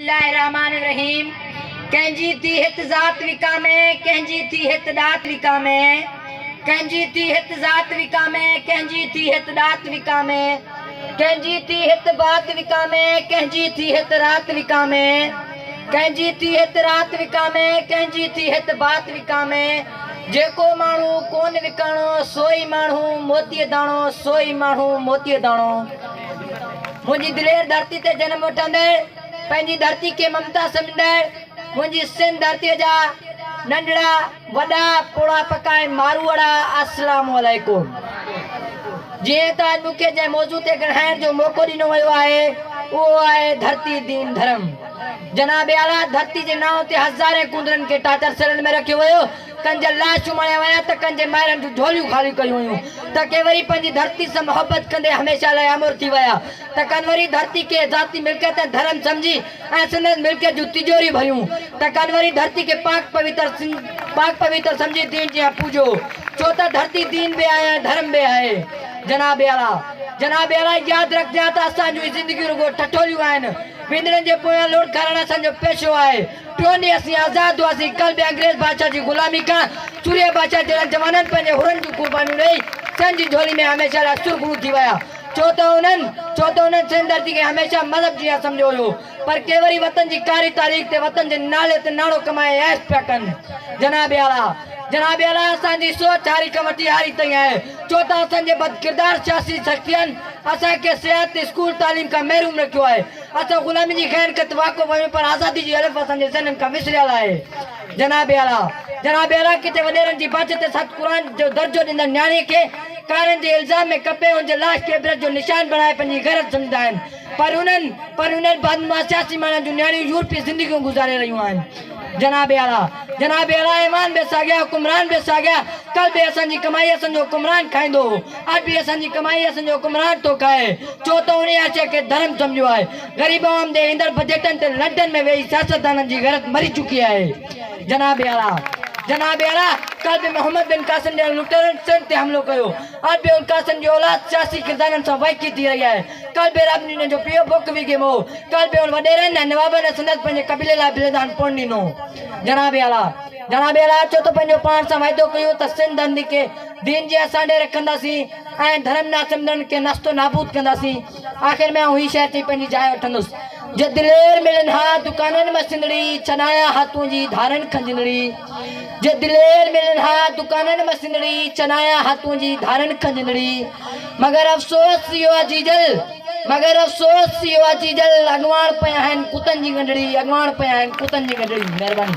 الله الرحمٰن الرحيم ڪنهن جي ٿي هت ذات وڪامي ڪنهن جي ٿي هت ڏات وڪامي ڪنهن جي ٿي هت ذات وڪامي ڪنهن جي ٿي هت ڏات وڪامي ڪنهن جي ٿي هت بات وڪامي ڪنهن جي ٿي هت رات وڪامي ڪنهن جي ٿي هت رات وڪامي ڪنهن جي ٿي هت بات وڪامي جيڪو ماڻهو ڪون وڪاڻو سوئي ماڻهو موتيء داڻو سوئي ماڻهو موتيء داڻو منهنجي دلير ڌرتي تي جنم وٺندڙ پنهنجي ڌرتي کي ممتا سمجهندڙ منهنجي سنڌ ڌرتي جا ننڍڙا وڏا پوڙها پڪا ۽ ماروئڙا السلام عليڪم جيئن ته اڄ مون کي جنهن موضوع تي ڳڻهائڻ جو موقعو ڏنو ويو آهي اهو آهي ڌرتي دين ڌرم جناب اعليٰ ڌرتي جي نانء تي هزارين ڪوندرن کي ٽاچر سيلن ۾ رکيو ويو ڪن جا لاش چماڙيا ويا ته ڪن جي مائرن جون جهوليون خاليون ڪيون ويون ته ڪي وري پنهنجي ڌرتي سان محبت ڪندي هميشه لاء امر ٿي ويا ته ڪن وري ڌرتي کي ذاتي ملڪيت ۽ ڌرم سمجهي ۽ سندس ملڪيت جون تجوريون ڀريون ته ڪن وري ڌرتي کي پاڪ پويتر سمجهي دين جيان پوڄيو ڇو ته ڌرتي دين به آهي ۽ ڌرم به آهي جناب اعليٰ جناب اعليٰ ياد رکجان ته اسان جون هي زندگيون رڳو ٺٺوليون آهن ويندڙن جي پويان لوڙڪارڻ اسان جو پيشو آهي. ٽيون ڏينهن اسين آزاد هئاسين، ڪل به انگريز بادشاهه جي غلامي کان چوريا بادشاهه جهڙن جوانن پنهنجي حرن جون قربانيون ڏيئي سنڌ جي جهولي ۾ هميشه لاء سرخرو ٿي ويا ڇو ته انهن ڇو ته انهن سنڌ ڌرتي کي هميشه مذهب جيان سمجهيو هيو پر ڪي وري وطن جي ڪاري تاريخ تي وطن جي نالي تي ناڻو ڪمائي عيش پيا ڪن جناب اعليٰ جناب اعليٰ اسان جي سوچ هاري کان وٺي هاري تائين آهي ڇو ته اسان جي بدڪردار سياسي سختين اسان کي سياحت تي اسڪول تعليم کان محروم رکيو آهي اسان غلامي جي خير کت واقف آهيون پر آزادي جي الف اسان جي ذهنن کان وسريل آهي. جناب اعليٰ! جناب اعليٰ! ڪٿي وڏيرن جي باچ تي ست قرآن جو درجو ڏيندڙ نياڻي کي ڪارن جي الزام ۾ ڪپي هن جي لاش کي عبرت جو نشان بڻائي پنهنجي غيرت سمجهندا آهن پر انهن پر انهن بدنما سياسي ماڻهن جون نياڻيون يورپي زندگيون گذاري رهيون آهن. جناب اعليٰ جناب اعليٰ ايمان به ساڳيا حڪمران به ساڳيا ڪل به اسان جي ڪمائي اسان جو حڪمران کائيندو هو اڄ به اسان جي ڪمائي اسان جو حڪمران ٿو کائي ڇو ته انهي آشيء کي ڌرم سمجهيو آهي غريب عوام تي ايندڙ بجيٽن تي لنڊن ۾ ويهي سياستدانن جي غيرت مري چڪي آهي جناب اعليٰ جناب اعليٰ ڪل به محمد بن قاسم جهڙن لٽيرن سنڌ تي حملو ڪيو اڄ به القاسم جي اولاد سياسي ڪردارن سان وائکي ٿي رهي آهي ڪالبير ابنينن جو پيء بوڪ ويگيم هو. ڪالبير وڏيرن ۽ نوابن ۽ سندس پنهنجي قبيلي لاء بلند هنپون ڏنو. جناب اعليٰ جناب اعليٰ چوٿ پنهنجو پاڻ سان وعدو ڪيو ته سنڌ هندن کي دين جي اسان ڏي رکنداسين ۽ ڌرم نه سمجهندڙن کي نست و نابود ڪنداسين. آخر ۾ آئون هي شهر چئي پنهنجي جاء وٺندس. جي دلير ملن ها دڪانن مان سنڌڙي، ڇڏايان ها تنهنجي ڌارن کن جندڙي. جي دليل ملن ها دڪانن مان سنڙي چنايان هاتون جي ڌارن کنجندڙي مگر افسوس اهو آ جيجل مگر افسوس اهو آ جيجل اڳواڻ پيا آهن ڪتن جي ڳنڍڙي اڳواڻ پيا آهن ڪتن جي ڳنڍڙي مهرباني.